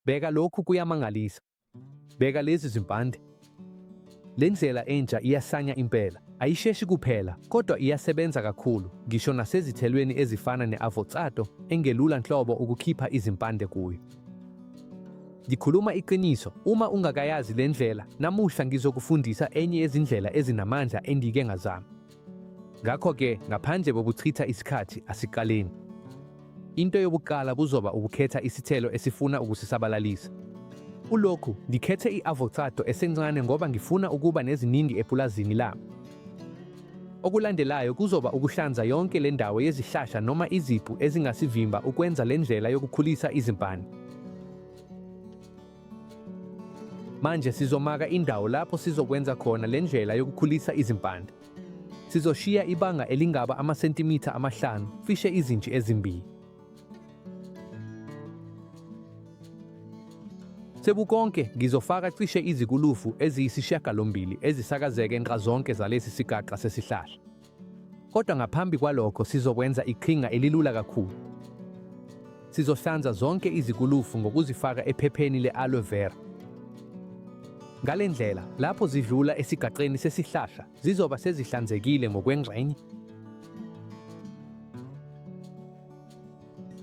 Bheka lokhu kuyamangalisa. Bheka lezi zimpande. Le ndlela entsha iyasanya impela. Ayisheshi kuphela, kodwa iyasebenza kakhulu, ngisho nasezithelweni ezifana ne-avocado, engelula nhlobo ukukhipha izimpande kuyo. Ngikhuluma iqiniso, uma ungakayazi le ndlela, namuhla ngizokufundisa enye yezindlela ezinamandla engike ngazama. Ngakho-ke, ngaphandle kokuchitha isikhathi, asiqaleni. Into yokuqala kuzoba ukukhetha isithelo esifuna ukusisabalalisa. Kulokhu, ngikhethe i-avocado esencane ngoba ngifuna ukuba neziningi epulazini lami. Okulandelayo kuzoba ukuhlanza yonke le ndawo yezihlahla noma iziphu ezingasivimba ukwenza le ndlela yokukhulisa izimpani. Manje sizomaka indawo lapho sizokwenza khona le ndlela yokukhulisa izimpande. Sizoshiya ibanga elingaba amasentimitha amahlanu, fishe izinji ezimbili. Sebukonke ngizofaka cishe izikulufu eziyisishiyagalombili ezisakazeke nxazonke zalesi sigaxa sesihlahla. Kodwa ngaphambi kwalokho sizokwenza iqhinga elilula kakhulu. Sizohlanza zonke izikulufu ngokuzifaka ephepheni le-aloe vera. Ngale ndlela, lapho zidlula esigaqeni sesihlahla, zizoba sezihlanzekile ngokwengxenye.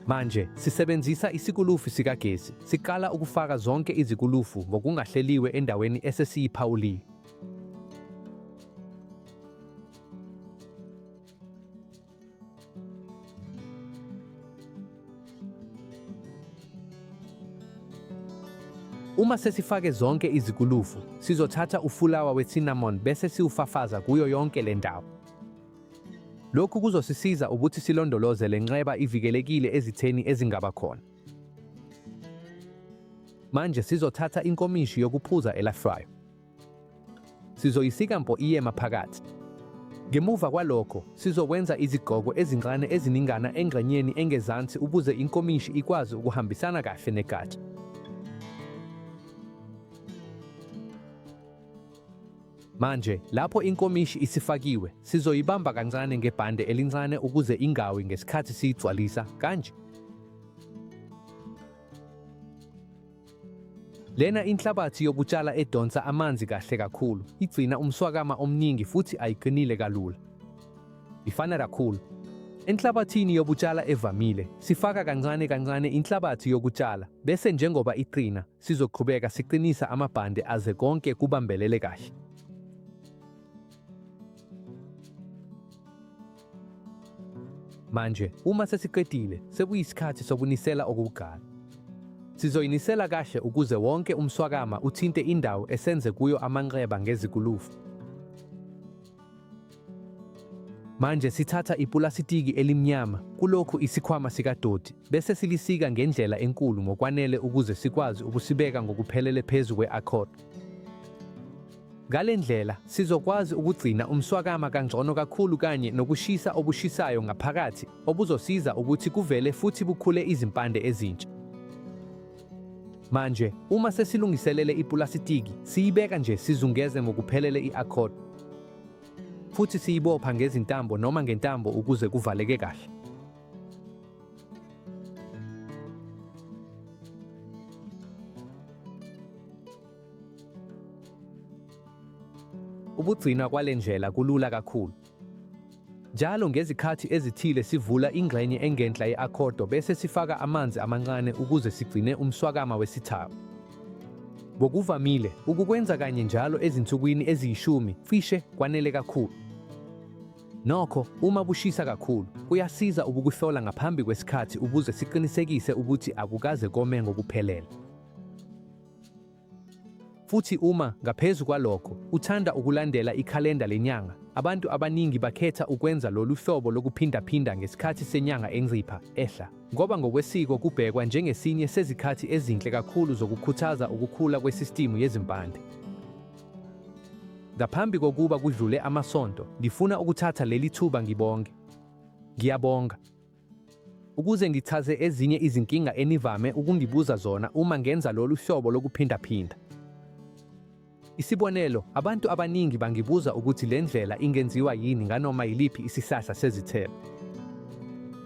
Manje sisebenzisa isikulufu sikagesi, siqala ukufaka zonke izikulufu ngokungahleliwe endaweni esesiyiphawuliwe. Uma sesifake zonke izikulufu, sizothatha ufulawa we-cinnamon bese siwufafaza kuyo yonke le ndawo. Lokhu kuzosisiza ukuthi silondoloze le nxeba ivikelekile ezitheni ezingaba khona. Manje sizothatha inkomishi yokuphuza elafryo. Sizoyisika mpo iye maphakathi. Ngemuva kwalokho, sizokwenza izigqoko ezincane eziningana engxenyeni engezansi ukuze inkomishi ikwazi ukuhambisana kahle negatsha. Manje, lapho inkomishi isifakiwe, sizoyibamba kancane ngebhande elincane ukuze ingawi ngesikhathi siyigcwalisa kanje. Lena inhlabathi yokutshala edonsa amanzi kahle kakhulu, igcina umswakama omningi futhi ayiqinile kalula. Ifana kakhulu. Enhlabathini yokutshala evamile, sifaka kancane kancane inhlabathi yokutshala, bese njengoba iqina, sizoqhubeka siqinisa amabhande aze konke kubambelele kahle. Manje, uma sesiqedile, sekuyisikhathi sokunisela okokuqala. Sizoyinisela kahle ukuze wonke umswakama uthinte indawo esenze kuyo amanxeba ngezikulufu. Manje sithatha ipulasitiki elimnyama kulokhu isikhwama sikadoti bese silisika ngendlela enkulu ngokwanele ukuze sikwazi ukusibeka ngokuphelele phezu kwe-accord. Ngale ndlela sizokwazi ukugcina umswakama kangcono kakhulu kanye nokushisa obushisayo ngaphakathi obuzosiza ukuthi kuvele futhi bukhule izimpande ezintsha. Manje, uma sesilungiselele ipulasitiki, siyibeka nje sizungeze ngokuphelele i-accord futhi siyibopha ngezintambo noma ngentambo ukuze kuvaleke kahle. Ukugcinwa kwale ndlela kulula kakhulu. Njalo ngezikhathi ezithile sivula ingxenye engenhla ye-akhodo bese sifaka amanzi amancane ukuze sigcine umswakama wesithako. Ngokuvamile, ukukwenza kanye njalo ezinsukwini eziyishumi cishe kwanele kakhulu. Nokho, uma bushisa kakhulu, kuyasiza ukukuhlola ngaphambi kwesikhathi ukuze siqinisekise ukuthi akukaze kome ngokuphelele. Futhi uma, ngaphezu kwalokho, uthanda ukulandela ikhalenda lenyanga, abantu abaningi bakhetha ukwenza lolu hlobo lokuphindaphinda ngesikhathi senyanga encipha, ehla, ngoba ngokwesiko kubhekwa njengesinye sezikhathi ezinhle kakhulu zokukhuthaza ukukhula kwesistimu yezimpande. Ngaphambi kokuba kudlule amasonto, ngifuna ukuthatha leli thuba ngibonge. Ngiyabonga. ukuze ngichaze ezinye izinkinga enivame ukungibuza zona uma ngenza lolu hlobo lokuphindaphinda. Isibonelo, abantu abaningi bangibuza ukuthi le ndlela ingenziwa yini nganoma yiliphi isihlahla sezithelo.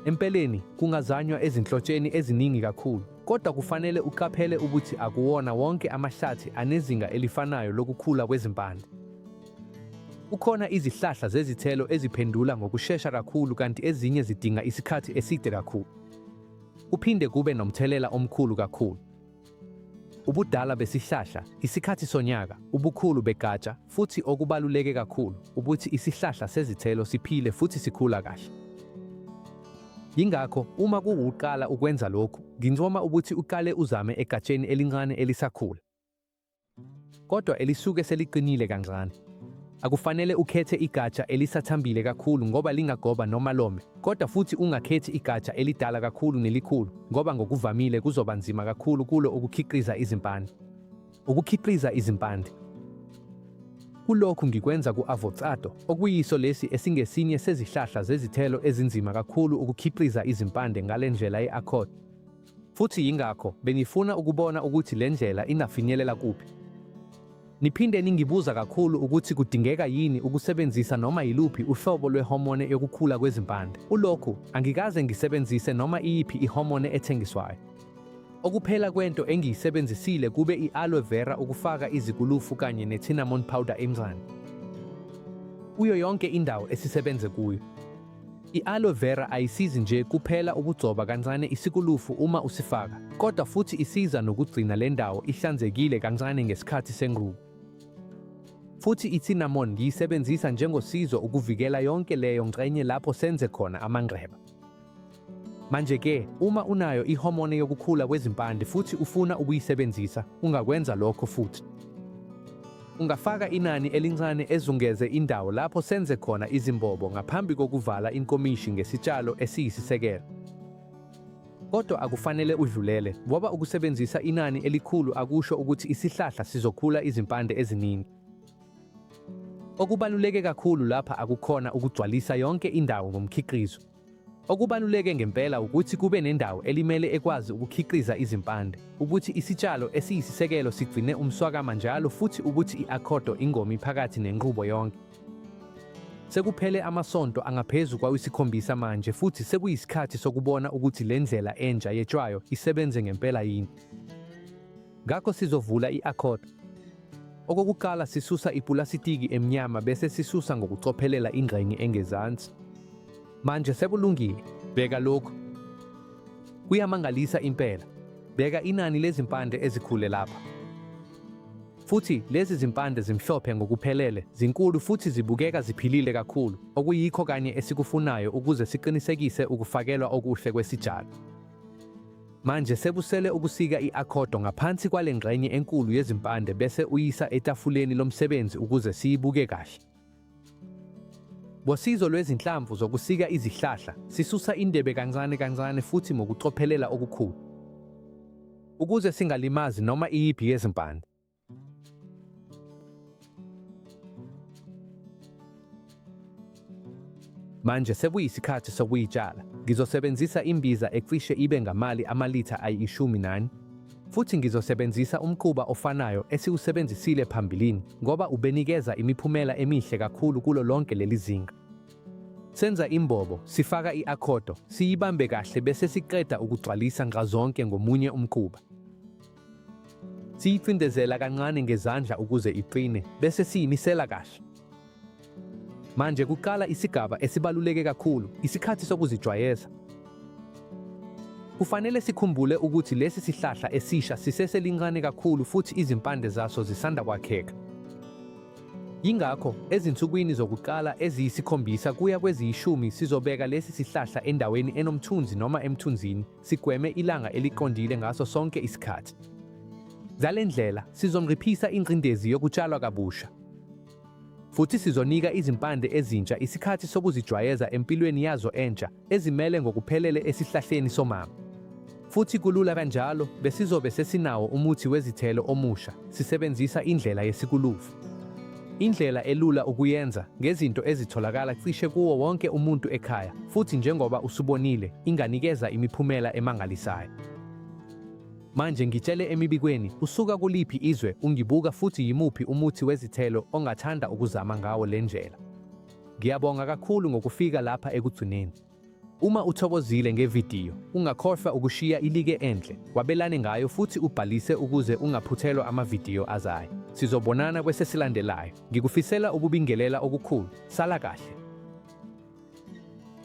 Empeleni, kungazanywa ezinhlotsheni eziningi kakhulu, kodwa kufanele uqaphele ukuthi akuwona wonke amahlathi anezinga elifanayo lokukhula kwezimpande. Kukhona izihlahla zezithelo eziphendula ngokushesha kakhulu kanti ezinye zidinga isikhathi eside kakhulu. Kuphinde kube nomthelela omkhulu kakhulu. Ubudala besihlahla, isikhathi sonyaka, ubukhulu begatsha, futhi okubaluleke kakhulu, ukuthi isihlahla sezithelo siphile futhi sikhula kahle. Yingakho uma kuwuqala ukwenza lokhu, ngincoma ukuthi uqale uzame egatsheni elincane elisakhula. kodwa elisuke seliqinile kancane. Akufanele ukhethe igatsha elisathambile kakhulu ngoba lingagoba noma lome, kodwa futhi ungakhethi igatsha elidala kakhulu nelikhulu ngoba ngokuvamile kuzoba nzima kakhulu kulo ukukhiqiza izimpande. Ukukhiqiza izimpande Kulokhu ngikwenza ku-avocado, okuyiso lesi esingesinye sezihlahla zezithelo ezinzima kakhulu ukukhiqiza izimpande ngale ndlela ye-accord. Futhi yingakho bengifuna ukubona ukuthi le ndlela ingafinyelela kuphi. Niphinde ningibuza kakhulu ukuthi kudingeka yini ukusebenzisa noma yiluphi uhlobo lwehomone yokukhula kwezimpande. Ulokhu angikaze ngisebenzise noma iyiphi ihomone ethengiswayo. Okuphela kwento engiyisebenzisile kube i-aloe vera ukufaka izikulufu kanye ne-cinnamon powder emzani kuyo yonke indawo esisebenze kuyo. I-aloe vera ayisizi nje kuphela ukugcoba kancane isikulufu uma usifaka, kodwa futhi isiza nokugcina le ndawo ihlanzekile kancane ngesikhathi senqubo. Futhi i-cinnamon ngiyisebenzisa njengosizo ukuvikela yonke leyo ngxenye lapho senze khona amanxeba. Manje-ke, uma unayo ihomone yokukhula kwezimpande futhi ufuna ukuyisebenzisa, ungakwenza lokho futhi. Ungafaka inani elincane ezungeze indawo lapho senze khona izimbobo ngaphambi kokuvala inkomishi ngesitshalo esiyisisekelo. Kodwa akufanele udlulele ngoba ukusebenzisa inani elikhulu akusho ukuthi isihlahla sizokhula izimpande eziningi. Okubaluleke kakhulu lapha akukhona ukugcwalisa yonke indawo ngomkhiqizo, Okubaluleke ngempela ukuthi kube nendawo elimele ekwazi ukukhiqiza izimpande, ukuthi isitshalo esiyisisekelo sigcine umswakama njalo futhi ukuthi i-akhodo ingomi phakathi nenqubo yonke. Sekuphele amasonto angaphezu kwawisikhombisa manje futhi sekuyisikhathi sokubona ukuthi le ndlela entsha yetshwayo isebenze ngempela yini. Ngakho sizovula i-accord. Okokuqala sisusa ipulasitiki emnyama bese sisusa ngokucophelela ingxenye engezansi. Manje sekulungile. Bheka lokhu. Kuyamangalisa impela. Bheka inani lezimpande ezikhule lapha. Futhi lezi zimpande zimhlophe ngokuphelele, zinkulu futhi zibukeka ziphilile kakhulu, okuyikho kanye esikufunayo ukuze siqinisekise ukufakelwa okuhle kwesitshalo. Manje sekusele ukusika i-akhodo ngaphansi kwale ngxenye enkulu yezimpande bese uyisa etafuleni lomsebenzi ukuze siyibuke kahle. Ngosizo lwezinhlamvu zokusika izihlahla, sisusa indebe kancane kancane futhi ngokucophelela okukhulu ukuze singalimazi noma iyiphi yezimpande. Manje sekuyisikhathi sokuyitshala. Ngizosebenzisa imbiza ecishe ibe ngamali amalitha ayishumi nani futhi ngizosebenzisa umquba ofanayo esiwusebenzisile phambilini ngoba ubenikeza imiphumela emihle kakhulu kulo lonke leli zinga. Senza imbobo, sifaka i-akhodo, siyibambe kahle bese siqeda ukugcwalisa nxazonke ngomunye umquba. Siyicindezela kancane ngezandla ukuze iqine bese siyimisela kahle. Manje kuqala isigaba esibaluleke kakhulu, isikhathi sokuzijwayeza. Kufanele sikhumbule ukuthi lesi sihlahla esisha siseselincane kakhulu futhi izimpande zaso zisanda kwakheka. Yingakho ezinsukwini zokuqala eziyisikhombisa kuya kweziyishumi sizobeka lesi sihlahla endaweni enomthunzi noma emthunzini sigweme ilanga eliqondile ngaso sonke isikhathi. Ngale ndlela sizonciphisa ingcindezi yokutshalwa kabusha futhi sizonika izimpande ezintsha isikhathi sokuzijwayeza empilweni yazo entsha ezimele ngokuphelele esihlahleni somama. Futhi kulula kanjalo besizobe sesinawo umuthi wezithelo omusha sisebenzisa indlela yesikulufu. Indlela elula ukuyenza ngezinto ezitholakala cishe kuwo wonke umuntu ekhaya, futhi njengoba usubonile, inganikeza imiphumela emangalisayo. Manje ngitshele emibikweni, usuka kuliphi izwe ungibuka futhi yimuphi umuthi wezithelo ongathanda ukuzama ngawo le ndlela. Ngiyabonga kakhulu ngokufika lapha ekugcineni. Uma uthokozile ngevidiyo, ungakhohlwa ukushiya ilike enhle, wabelane ngayo futhi ubhalise ukuze ungaphuthelwa amavidiyo azayo. Sizobonana kwesesilandelayo. Ngikufisela ukubingelela okukhulu. Sala kahle.